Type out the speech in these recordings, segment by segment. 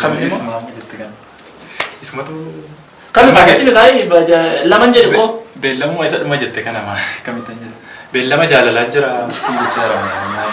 Kamiin immoo? Maal jette kana? Isumatu Kami fakkatti nu taa'ee baja laman jedhe koo. beellamuma isa dhuma jette kana maa kamittan jedha. Beellama jaalalaa jira si jecha jira maal.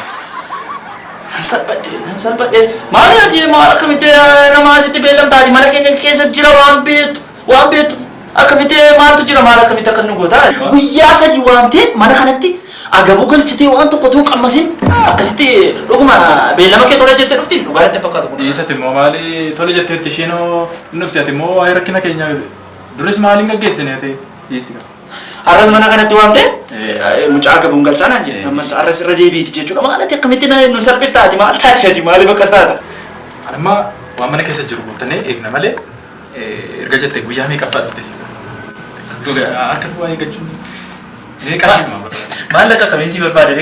Salphadhee salphadhee maal ati maal akkamitti nama asitti beellamtaati mana keenya keessa jira waan beektu Waan beektu akkamitti maaltu jira maal akkamitti akkas nu goota? Guyyaa sadii waamtee mana kanatti agabuu galchitee waan tokko tuu qammasin akkasitti dhuguma beellama kee tola jettee dhufti dhugaa natti hin fakkaatu kun. Dhiisati immoo maali tole jetteetti isheen hoo hin dhufte ati immoo waa'ee rakkina keenyaa duris maali hin gaggeessine ati dhiisi qaba. Har'as mana kanatti waamtee Eh. mucaa agabuun galchaa naan jedhe ammas har'as irra deebiiti jechuudha maal ati akkamitti na- nu salphifta ati maal taate ati maaliif akkas taata? Anamma waan mana keessa jiru guuttannee eegna malee Erga jette guyyaa meeqaffaa dhufte sila? Harka duwwaa eeggachuun meeqa dhimma? Maallaqa kamiin si barbaade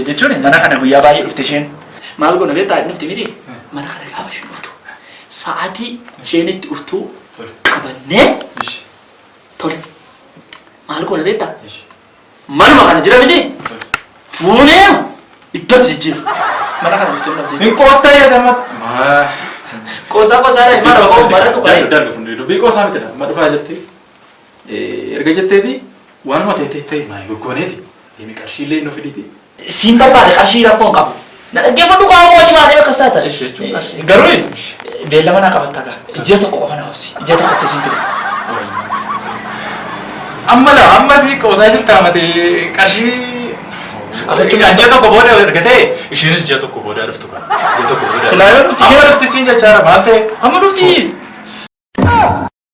jechuun mana kana guyyaa baay'ee dhufte isheen. Maal goona beektaa hin dhufte miti? Mana kana gaafa isheen dhuftu sa'aatii isheen itti dhuftu qabannee tole. Maal goona beektaa? Manuma kana jira miti? Fuunee iddoo itti jijjiira. Mana kana bulchuu hin dhabdee. Hin qoostaa yaada ammas. Maa. Qoosaa qoosaa dha himaa rakkoo mara dhugaa. Dalga dalga kun dubbii qoosaa miti dha. Ma dhufaa jirti. Erga jetteeti waanuma ta'e ta'e ta'e maa goggoneeti. Deemi qarshiillee nu fiditi. Siin barbaada qarshii rakkoo hin qabu. Na dhaggeeffadhu kaa ammoo achi baatee akkas taata. Ishi jechuun qarshii. Garuu beellama naa qabatta kaa. Ji'a tokko qofa na obsi. Ji'a tokkotti siin fida. Amma laa amma si qoosaa jirtaa mate qarshii. Afachuu Kan ji'a tokko booda argatee ishiinis ji'a tokko booda dhuftu kan. Ji'a tokko booda. Silaa yoo dhufti- Amma dhufti siin jechaara maal ta'e? Amma dhufti.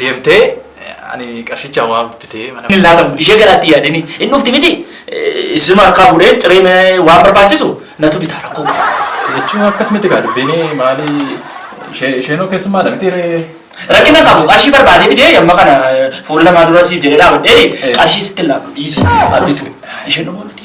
deemtee ani qarshicha waa bitee mana. Hin laatamu ishee garaatti yaadini hin dhufti miti isuma harkaa fuudheen ciree mee waan barbaachisu natu bitaa rakkoo qabu. Jechuun akkas miti kaa dubbiini maali ishee isheenoo keessummaadha miti ree. Rakkina hin qabu qarshii barbaadee fidee amma kana fuula namaa dura siif jedhee dhaabadhee qarshii sitti hin laadhu dhiisi. Isheen dhumoo miti.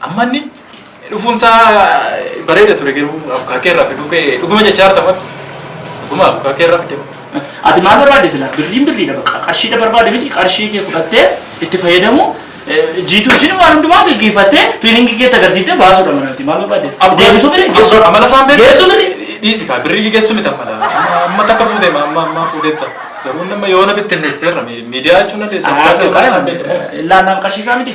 Amma inni dhufuun isaa bareeda ture garuu abukaakee irraa fiduu kee dhuguma jechaa jirta matu. Dhuguma abukaakee irraa fidee. Ati maal barbaadde silaa birriin birriidha bakka qarshiidha barbaadde miti qarshii kee fudhattee itti fayyadamu jiitu wajjin waan hundumaa gaggeeffattee fiilingii keetti agarsiiftee baasuudha mana miti maal barbaadde deebisuu birri geessuu Amala isaan beeku. geessuu birri Dhiisi kaa birrii geessu miti amala. Amma takka fuutee ma amma amma fuuteetta. Garuu nama yoo na bittinneesseerra miidiyaa jechuun dandeessa. Abukaakee isaan beektu. laannaan qarshii isaa miti.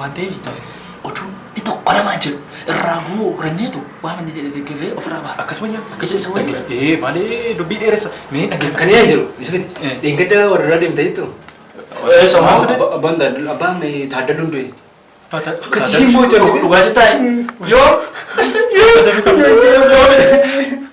waan ta'eef oduun ni tokko lamaa jedhu irraa guu ranyeetu waan inni jedhe deeggarree ofirraa baha. Akkas wayya akkas jedhe isa wayya. Ee maalee dubbii dheeressa mee dhaggeeffa. Kan yaa jiru Yusufin dheengadda warra deemte jettu. Ee somaatu de. Abbaan Taaddal abbaan Taaddaluu hin du'e. Akka tishiin boocha dhugaa jettaa yoo. Yoo. Yoo.